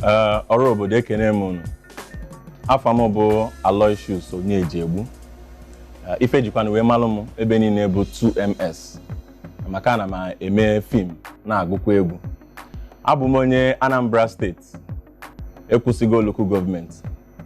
Ee, ọra obodo ekene m unu afa m bụ Aloysius Onyejegbu Ee, ife e jikwanụ wee malụ m ebe niile bụ 2ms maka ana m eme fim na-agụkwa egwu abụ m onye Anambra steeti ekwusigo local gọọmenti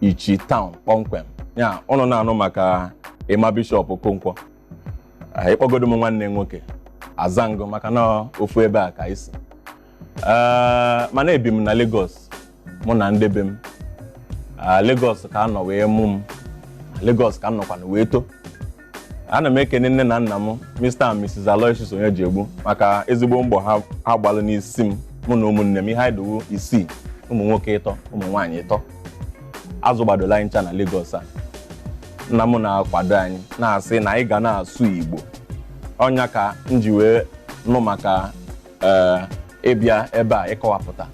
Ichi taụn kpọmkwem ya ụnụ na-anụ maka Emma Bishop Okonkwo Ah, ị kpọgodu m nwanne nwoke a aza m gụ maka na ofu ebe a ka anyị si Ah, mana ebi m na Lagos mụ na ndị be m Ah, Lagos ka a nọ wee mụ m Lagos ka m nọkwanụ wee to ana m ekene nne na nna m Mr and Mrs Aloysius Onyejegbu maka ezigbo mbọ ha ha gbalụ n'isi m mụ na ụmụnne m ihe anyị dụ wụ isii ụmụ nwoke ịtọ ụmụ nwaanyị ịtọ a zụgbadolu anyị ncha na Lagos a nna m na-akwado anyị na-asị na anyị ga na-asụ Igbo ọ nya ka m ji wee nụ maka ee ịbịa ebe a ịkọwapụta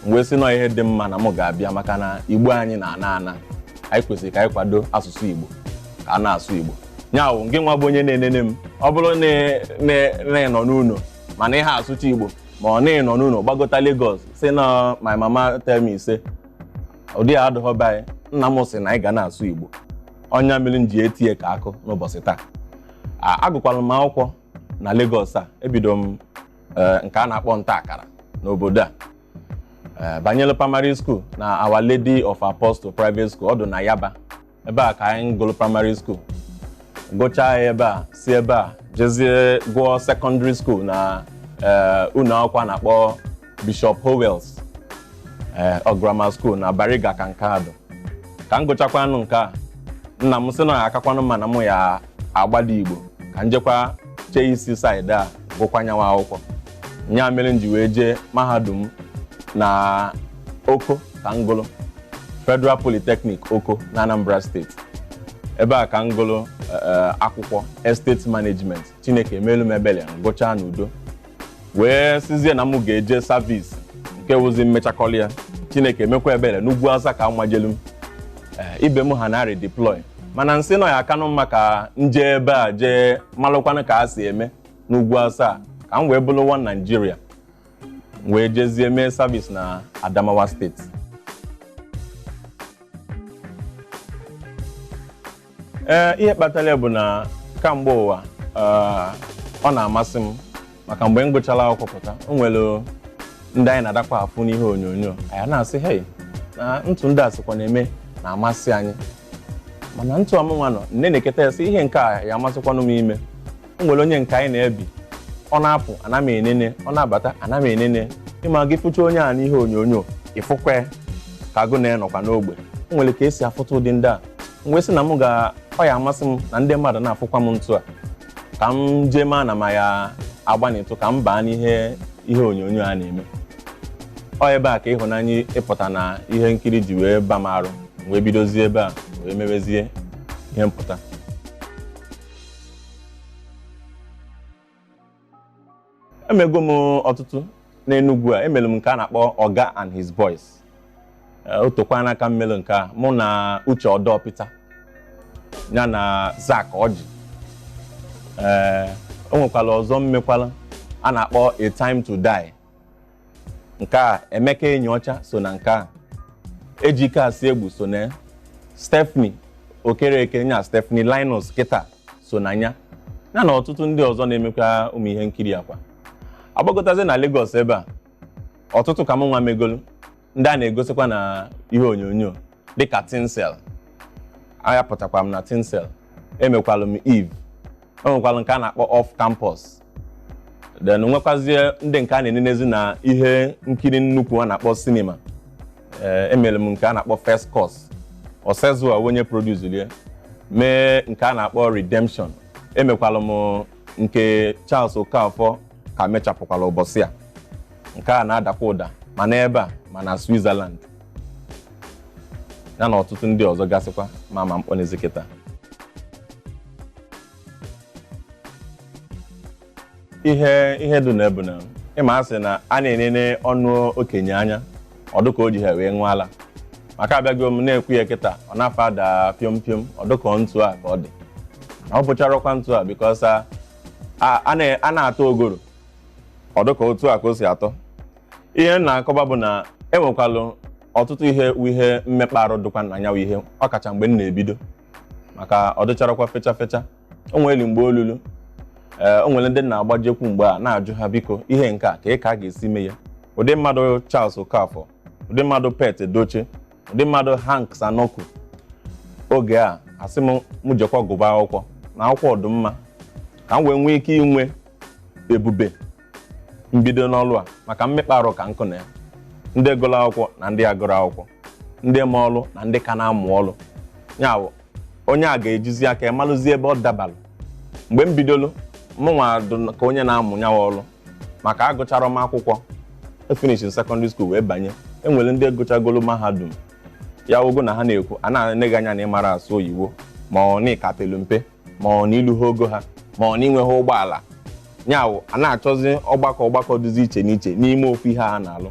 m wee sị na ọ ihe dị mma na m ga-abịa maka na igbo anyị na-ana ana anyị kwesịrị ka anyị kwado asụsụ igbo ka a na-asụ igbo nya wụ gị nwa bụ onye na-enene m ọ bụrụ na ị- na ị- na ị nọ n'ụlọ mana ị ha asụcha igbo ma ọ na ị nọ n'ụlọ gbagota Lagos sị na my mama tell me say ụdị a adịghọ be anyị nna m sị na anyị ga na-asụ igbo ọ nya mere m ji etie ka akụ n'ụbọchị taa A- agụkwara m akwụkwọ na Lagos a ebido m eh, nke a na-akpọ nta akara n'obodo a Eh, banyere primary school na Our Lady of Apostle private school ọ dụ na Yaba ebe a ka anyị gụrụ primary school gụchaa ya ebe a si ebe a jezie gụọ secondary school na eh, ụlọ akwụkwọ a na-akpọ Bishop Howells ee ọ grammar school na Bariga ka nke a dụ ka m gụchakwanụ nke a nna m sị na ọ ya-akakwanụ mma na mụ ya-agbada Igbo ka njekwa chee isi saịdị a gụkwa nyanwa akwụkwọ nya mere m ji wee jee mahadum na Oko ka m gụrụ Federal Polytechnic Oko na Anambra steeti ebe a ka m gụrụ akwụkwọ estate management Chineke emelu m ebele m gụchaa n'udo wee sizie na m ga-eje savis nke wụzi mmechakọlị ya chineke emekwa ebele n'ugwu Awụsa ka a majelu m Ee, ibe m ha na redeploy mana nsị na ọ ya-akanụ mma ka nje ebe a jee malụkwanụ ka a si eme n'ugwu Awụsa ka m wee bụrụ one Nigeria m wee jezie mee savis na adamawa steeti ee ihe kpatara ya bụ na kamgbe ụwa ee, ọ na-amasị m maka mgbe m gụchara akwụkwọ pụta o nwere ndị anyị na-adakwa afụ n'ihe onyonyo anyị na-asị hei na ntu ndị a sikwa na-eme na-amasị anyị mana ntu a mụnwa nọ nenekata ya sị ihe nke a ya amasịkwanụ m ime o nwere onye nke anyị na-ebi ọ na-apụ ana m enene ọ na-abata ana m enene ị ma gị fụcha onye a n'ihe onyonyo ị fụkwa ya ka agụ na-anọkwa n'ogbe o nwere ka e si afụta ụdị ndị a m wee sị na m ga ọ ya amasị m na ndị mmadụ na-afụkwa m ntụ a ka m jee maa na m ya agbanịtụ ka m baa n'ihe ihe onyonyo a na-eme ọ ebe a ka ịhụnanya ịpụta na ihe nkiri ji wee ba m arụ m wee bidozie ebe a wee mewezie ihe mpụta emego m ọtụtụ n'Enugwu a emere m nke a na-akpọ Oga and his boys Eh, o tekwana aka m mere nke a mụ na Uche Odoputa ya na Zack Orji ee o nwekwara ọzọ m mekwara a na-akpọ A Time to Die nke a Emeka Enyiocha so na nke a Ejike Asiegbu so na ya Stephanie Okereke nya Stephanie Linus kịta so na ya ya na ọtụtụ ndị ọzọ na-emekwa ụmụ ihe nkiri a kwa agbagotazi na Lagos ebe a ọtụtụ ka m nwa megolu ndị a na-egosikwa na ihe onyonyo dịka Tinsel anya pụtakwa m na Tinsel emekwalụ m Eve o nwekwalụ nke a na-akpọ Off Campus then nwekwazie ndị nke a na-enenezi na ihe nkiri nnukwu a na-akpọ cinema ee emere m nke a na-akpọ First Cause Osezua onye producelụ ya mee nke a na-akpọ Redemption emekwalụ m nke Charles Okafor ka mechapụkwara ụbọchị a nke a na-adakwa ụda ma n'ebe a ma na Switzerland ya na ọtụtụ ndị ọzọ gasịkwa m ma-akpọnizi kịta ihe ihe dị na ya bụ na ị ma a sị na a na-enene ọnụ okenye anya ọ dụ ka o jiha wee ṅụọ ala maka abịago m na-ekwu ya kịta ọ na-afa ada piom piom ọ dụ ka ọ ntu a ka ọ dị na ọ bụcharọkwa ntu a because a- a na- a na-ata ugoro ọ dụ ka otu a ka o si atọ ihe m na-akọba bụ na e nwekwalụ ọtụtụ ihe wụ ihe mmekpa arụ dịkwa na nya wụ ihe ọ kacha mgbe m na-ebido maka ọ dịcharọkwa fecha fecha o nwere mgbe o lulu ee o nwere ndị m na-agbajekwu mgbe a na-ajụ ha biko ihe nke a ka ị ka a ga-esi mee ya ụdị mmadụ Charles Okafor ụdị mmadụ Pete Edochie ụdị mmadụ Hanks Anuku oge a a sị m m jekwa gụba akwụkwọ na akwụkwọ ọ dụ mma ka m wee nwee ike inwe ebube mbido n'ọlụ a maka mmekpa arụ ka nkụ na ya ndị gụrụ akwụkwọ na ndị agụrọ akwụkwọ ndị ma ọlụ na ndị ka na-amụ ọlụ ya bụ onye a ga-ejizi aka ya malụzie ebe ọ dabalụ mgbe m bidolu mụnwa dụ ka onye na-amụ nyawa ọlụ maka agụchara m akwụkwọ efinish secondary school wee banye enwere ndị gụchagolu mahadum ya ogo na ha na-ekwu a na-ene gị anya na ịmara asụ oyibo ma ọ na ịka pelu mpe ma ọ na iluha ogo ha ma ọ na inweghị ụgbọala nyawụ a na-achọzi ọgbakọ ọgbakọ dịzi iche n'iche n'ime ofu ihe a na-alụ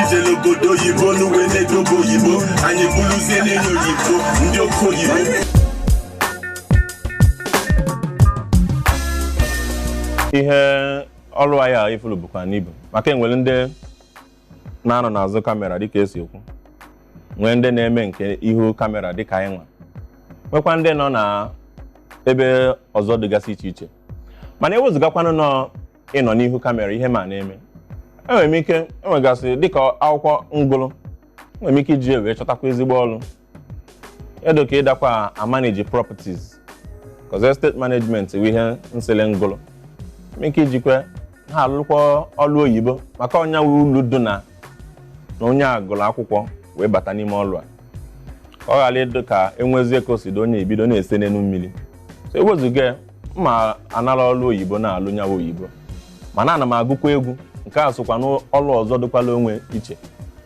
ijele obodo oyibo n'uwe na-edobe oyibo anyị bụrụzie n'enye oyibo ndị oke oyibo ihe ọlụ anyị a ifulu bukwanụ ibu maka enwere ndị na-anọ n'azụ kamera dịka esi ekwu nwee ndị na-eme nke ihu kamera dịka anyị nwa nwekwa ndị nọ na ebe ọzọ dịgasị iche iche mana ewezụgakwanụ nọ ịnọ n'ihu kamera ihe m na-eme enwere m ike enwegasị dịka akwụkwọ m gụlụ enwere m ike iji ya wee chọtakwa ezigbo ọlụ dụ ka ịdakwa amanage properties cos estate management wụ ihe nsele m gụlụ m ike ijikwa ha alụkwa ọlụ oyibo maka ọ nya wụ ulu dị na na onye a gụrụ akwụkwọ wee bata n'ime ọlụ a ka ọ ghara ịdị ka enwezie ka o si dị onye ebido na-ese n'elu mmiri so ewezụga ya ma anara ọlụ oyibo na-alụ nyawa oyibo mana ana m agụkwa egwu nke a sokwa n'ọlụ ọzọ dịkwala onwe iche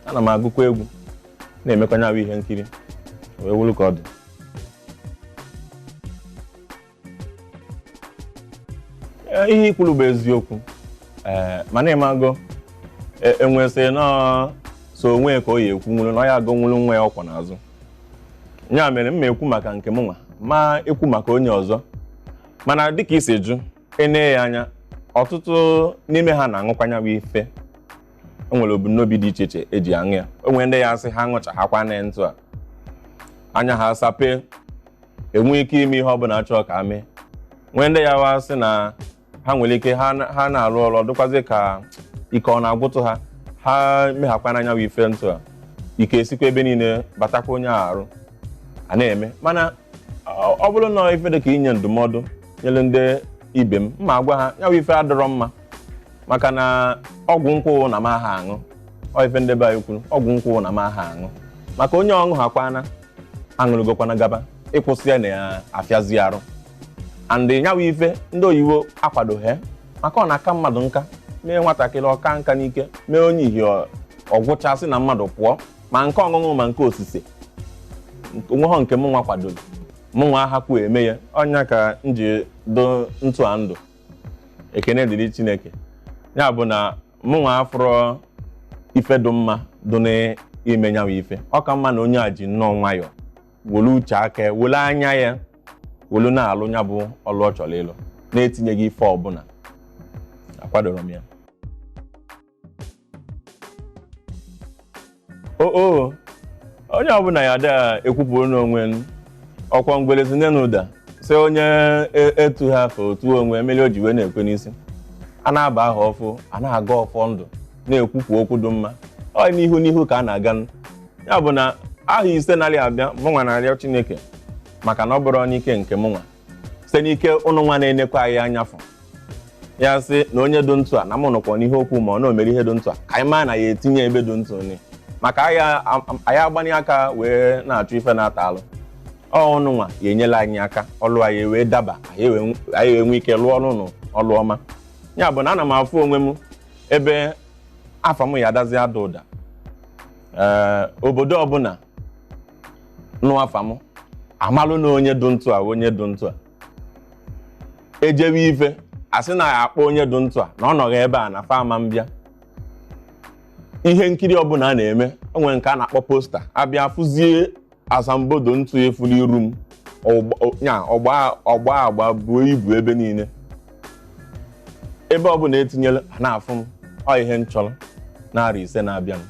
ana m agụkwa egwu na-emekwa nyawa ihe nkiri wee wụrụ ka ọ dị Ee, ihe ikwuru bụ eziokwu ee mana ịmago enwe sị na ọ sọ onwe ka ọ ya ekwunwuru na ọ ya agọnwuru nwa ya ọ kwọ n'azụ ya mere m ma ekwu maka nke m nwa ma ekwu maka onye ọzọ mana dịka isi jụ enee ya anya ọtụtụ n'ime ha na-aṅụkwa nya bụ ife enwere ebumnobi dị iche iche eji aṅụ ya enwere ndị ya asị ha ṅụchahakwa na ntụ a anya ha sapee enwe ike ime ihe ọ bụla a chọọ ka mee nwee ndị ya wa sị na ha nwere ike ha na- ha na-arụ ọrụ ọ dịkwazi ka ike ọ na-agwụtụ ha ha mehakwana nya bụ ife ntụ a ike esikwa ebe niile batakwa onye a arụ a na-eme mana ọ ọ bụrụ na ife dị ka inye ndụmọdụ nyere ndị ibe m ma agwa ha ya bụ ife adịrọ mma maka na ọgwụ nkwụ na m aha aṅụ ọ ife ndị be anyị kwuru ọgwụ nkwụ na m aha aṅụ maka onye ọ ṅụhakwana aṅụrụgokwana gaba ịkwụsị ya na-afịazi arụ and nyawa ife ndị oyibo akwadoghị maka ọ na-aka mmadụ nka mee nwatakịrị ọ kaa nka n'ike mee onye ihe ọ gwụchasị na mmadụ pụọ ma nke ọṅụṅụ ma nke osise onweghọ nke mụnwa kwadoro mụnwa ahakwu eme ya ọ nya ka m ji dụ ntụ a ndụ ekene dịrị chineke ya bụ na mụnwa afụrọ ife dị mma dị n'ime nya wụ ife ọ ka mma na onye a ji nnọọ nwayọọ were uche aka ya were anya ya were na-alụ nya bụ ọlụ ọ chọrọ ịlụ na-etinyeghị ife ọbụla akwadoro m ya o o onye ọbụla ya ada ekwupụrụ n'onwe n ọkwa ngwele si n'enu daa sị onye e- etohọ o too onwe meli o ji wee na-ekwe n'isi a na-aba ahọ ọfụ a na-agọ ọfọ ndụ na-ekwupụ okwu dị mma ọ n'ihu n'ihu ka a na-aga n- ya bụ na ahọ ise na-abịa mụnwa na-arịọ chineke maka na ọ bụrọ n'ike nke mụnwa site n'ike ụnụ nwa na-enekwa anyị anya fụ ya sị na onye dị ntụ a na mụ nụkwa n'ihe okwu ma ọ na omere ihe dị ntụ a ka anyị maa na ya etinye ebe dị ntụ ni maka anyị a- am- anyị agbanye aka wee na-achụ ife na-ata alụ ọ ụnụ nwa ya enyela anyị aka ọlụ anyị wee daba anyị wee nw- anyị wee nwee ike lụọ ọrụ ụnụ ọlụ ọma ya bụ na ana m afụ onwe m ebe afa m ya adazi ada ụda ee obodo ọbụla nụ afa m amalụ na onye dụ ntụ a onye dụ ntụ a ejewe ife asị na ya akpọ onye dụ ntụ a na ọ nọghị ebe a na fa ama mbịa ihe nkiri ọbụla a na-eme o nwere nke a na-akpọ poster abịa fụzie asambodo ntụ efuru iru m ọgba- ọ- nya, ọgba ọgba agba buo ibu ebe niile ebe ọ bụla etinyela a na-afụ m ọ ihe m chọrọ n'arọ ise na-abịa m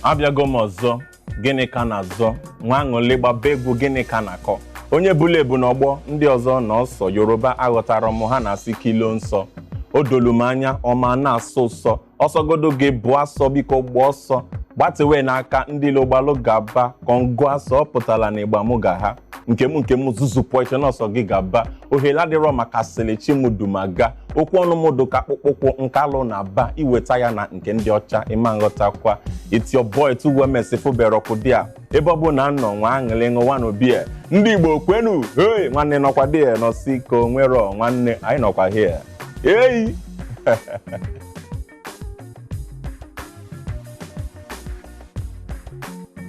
abịago m ọzọ gịnị ka a na-azọ nwee aṅụlị gbaba egwu gịnị ka a na-akọ onye bụla ebu n'ọgbọ ndị ọzọ na ọsọ yoruba aghọtarọ m ha na-asị kilo nsọ o dolu m anya ọ ma na-asọ ụsọ ọ sọgodu gị bụ asọ biko gba ọsọ gbatewe n'aka ndị ilo gbalụ gaba kongo asọ ọ pụtara na ịgba mụ ga ha nke m nke m zuzupụ eche n'ọsọ gị gaba ohere adịrọ maka sịlị chi m du m aga okwu ọnụ m dụ ka akpụkpọ ụkwụ nke alụ na aba i weta ya na nke ndị ọcha ị ma nghọtakwa it's your boy tuwemesi ị fụberọkwa ụdị a ebe ọbụna ị nọ nwee aṅụlị ṅụwa n'obi a ndị igbo kwenu hei nwanne nọkwa ebe a nọsi ka o nwerọ nwanne anyị nọkwa here eyi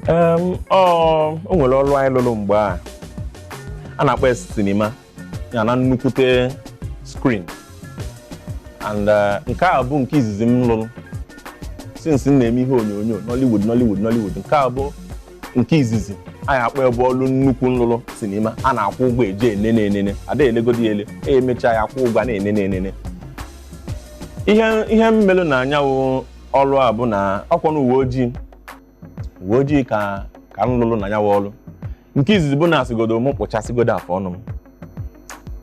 Em, ọ o nwere ọrụ anyị lụrụ mgbe a a na-akpọ ya sinima ya na nnukwute screen and eh, nke a bụ nke izizi m lụrụ since m na-eme ihe onyonyo Nollywood Nollywood Nollywood nke a bụ nke izizi a ya-akpọ ebe ọlụ nnukwu m lụrụ sinima a na-akwụ ụgwọ eje enene enene ada elegodi ya ele e emechaa ya akwụ ụgwọ a na-enene enene ihe ihe m melụ na nya wụ ọrụ a bụ na ọkwa na uwe ojii uwe ojii ka ka m lụrụ na nya wụ ọrụ nke izizi bụ na asịgodo m kpụchasịgodo afọ ọnụ m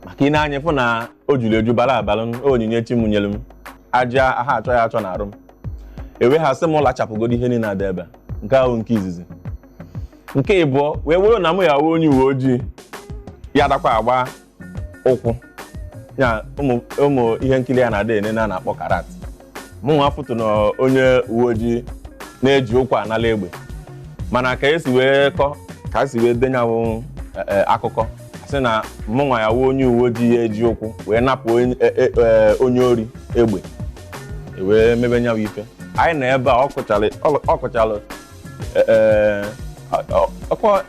maka i nee anya fụ na o juru eju bara abara onyinye chi m nyere m ajị a ha achọ ya achọ na arụ m e wee ha sị m lachapụgodo ihe niile dị ebe a. nke ahụ nke izizi nke ịbụọ wee wụrụ na mụ ya-awụ onye uwe ojii ya dakwa agba ụkwụ ya ụmụ ụmụ ihe nkiri a na-adị ene a na-akpọ karate mụ nwa afụtụ na onye uwe ojii na-eji ụkwụ anala egbe mana ka esi wee kọ ka esi wee dee nyanwụ akụkọ sị na mụ nwa ya-awụ onye uwe ojii ya eji ụkwụ wee napụ onye- e- e- e- onye ori egbe e wee mebe nyanwụ ife anyị nọ ebe a ọ kụchalụ ọ- ọ kụchalụ e- e, ọ- ọ- ọkwa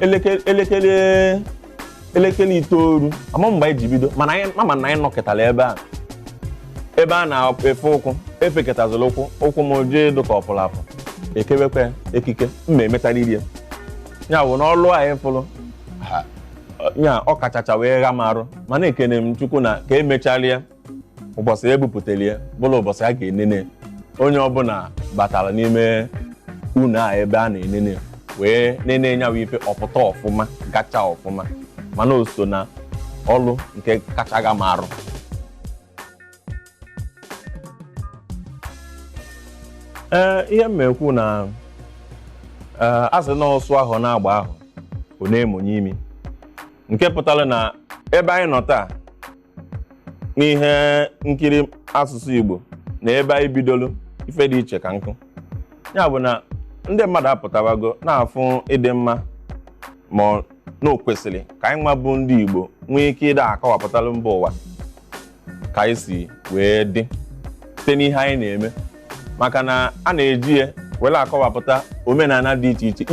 elekere elekere elekere itoolu ama m mgbe anyị ji bido mana m ma na anyị nọketara ebe a ebe a na-efe ụkwụ efeketazila ụkwụ ụkwụ m jee dụka ọ pụrụ apụ ekewekwe ekike ma e metariri ya ya bụ n'ọlụ anyị fụrụ ya ọ kachacha wee gha m arụ mana ekene m chukwu na ka emecharịa ụbọchị e bupụtara ya bụrụ ụbọchị a ga-enene onye ọbụla batara n'ime ụnọ a ebe a na-enene wee nene nyawa ife ọ pụta ọfụma gacha ọfụma mana o so na ọlụ nke kacha gha m arụ ee ihe m ekwu na ee a sị na ọsụ ahụ na-agba ahụ ọ na-emonye imi nke pụtara na ebe anyị nọ taa n'ihe nkiri asụsụ Igbo na ebe anyị bidolu ife dị iche ka nkụ ya bụ na ndị mmadụ apụtawago na-afụ ịdị mma ma na o kwesịrị ka anyị nwa bụ ndị Igbo nwee ike ịda akọwapụtalụ mba ụwa ka anyị si wee dị site n'ihe anyị na-eme maka na a na-eji ya were akọwapụta omenala dị iche iche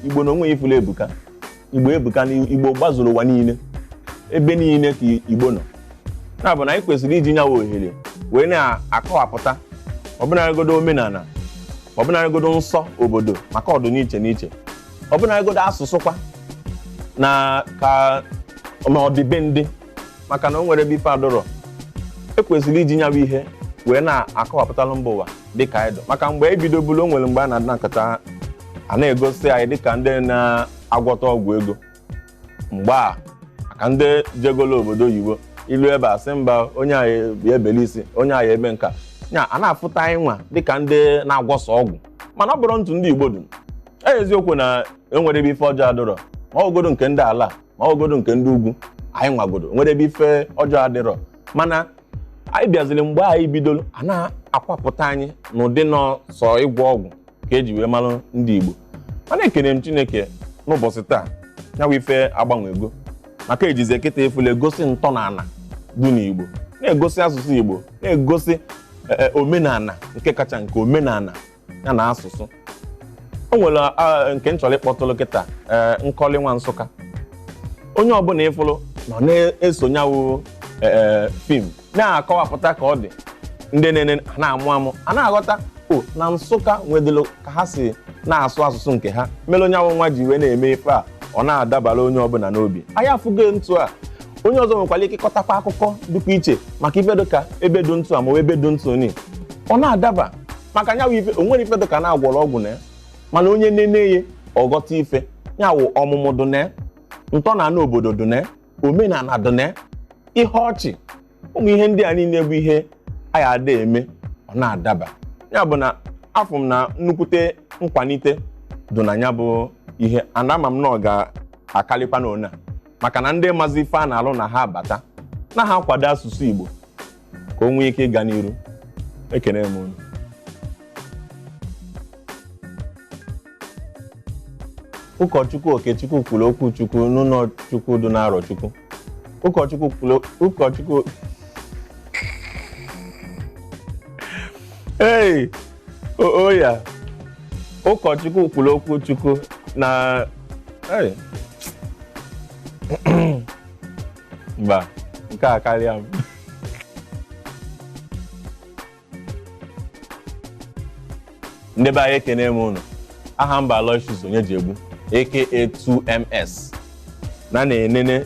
igbo na onwe ya ị fụlụ ebuka igbo ebuka na igbo gbazuru ụwa niile ebe niile ka igbo nọ ya bụ na anyị kwesịrị iji nyawa ohere wee na-akọwapụta ọbụnarịgodo omenala ọbụnarịgodo nsọ obodo maka ọ dụ n'iche n'iche ọbụnarịgodo asụsụ kwa na ka ma ọdịbendị maka na o nwerọ ebe ife adụrọ ekwesịrị iji nyawa ihe wee na-akọwapụtalụ mba ụwa dịka anyị dụ maka mgbe anyị bidobulu o nwere mgbe a na-adị na nkata a na-egosi anyị dịka ndị na-agwọta ọgwụ ego mgbe a maka ndị jegolo obodo oyibo i lue ebe a sị mba onye a ya ebeli isi onye a ya ebe nka ya a na-afụta anyị nwa dịka ndị na-agwọsa ọgwụ mana ọ bụrọ ntụ ndị igbo dụ eziokwu na enwerọ ebe ife ọjọọ adịrọ ma ọgodo nke ndị ala ma ọgodo nke ndị ugwu anyị nwagodo enwerọ ebe ife ọjọọ adịrọ mana anyị bịaziri mgbe anyị bidoro a na-akọwapụta anyị n'ụdị na ọ sọ ịgwọ ọgwụ ka eji wee mara ndị Igbo mana ekene m Chineke n'ụbọchị taa nya wụ ife agbanwego maka ejizi ekịta efule egosi ntọnana dị n'Igbo na-egosi asụsụ Igbo na-egosi e, e, omenala nke kacha nke omenala ya na asụsụ o nwere ah, nke m chọrọ ịkpọtụlụ kịta eh, Nkọli Nwa Nsụka onye ọbụla ị fụlụ nọ na-eso nya wụ fim na-akọwapụta ka ọ dị ndị na-ene na-amụ amụ a na-aghọta o na Nsụka nwedịlụ ka ha si na-asụ asụsụ nke ha mere onye ahụ nwa ji wee na-eme ife a ọ na-adabara onye ọbụla n'obi anyị afụgo ntu a onye ọzọ nwekwara ike ịkọtakwa akụkọ dịkwa iche maka ife dịka ebe dị ntu a ma ọ bụ ebe dị ntu ni ọ na-adaba maka nya wụ ife o nwere ife dị ka na a gwọrọ ọgwụ na ya mana onye nene ya ọ ghọta ife ya wụ ọmụmụ dị na ya ntọnana obodo dị na ya omenala dị na ya ihe ọchị ụmụ ihe ndị a niile bụ ihe a ya ada eme ọ na-adaba ya bụ na afụ m na nnukwute nkwalite dị na ya bụ ihe and ama m na ọ ga-akarịkwa na ona maka na ndị mazi ife a na-alụ na ha abata na ha akwado asụsụ Igbo ka o nwee ike ịga n'iru ekene m unu ụkọchukwu Okechukwu kwuru okwu chukwu n'ụlọ chukwu dị n'Arọchukwu ụkọchukwu kwuru ụkọchukwu ei oya ụkọchukwu kwuru okwu chukwu na ei. mba nke a karịa m ndị be anyị ekene m ụnụ aha m bụ Aloysius Onyejiegbu aka 2ms na na-enene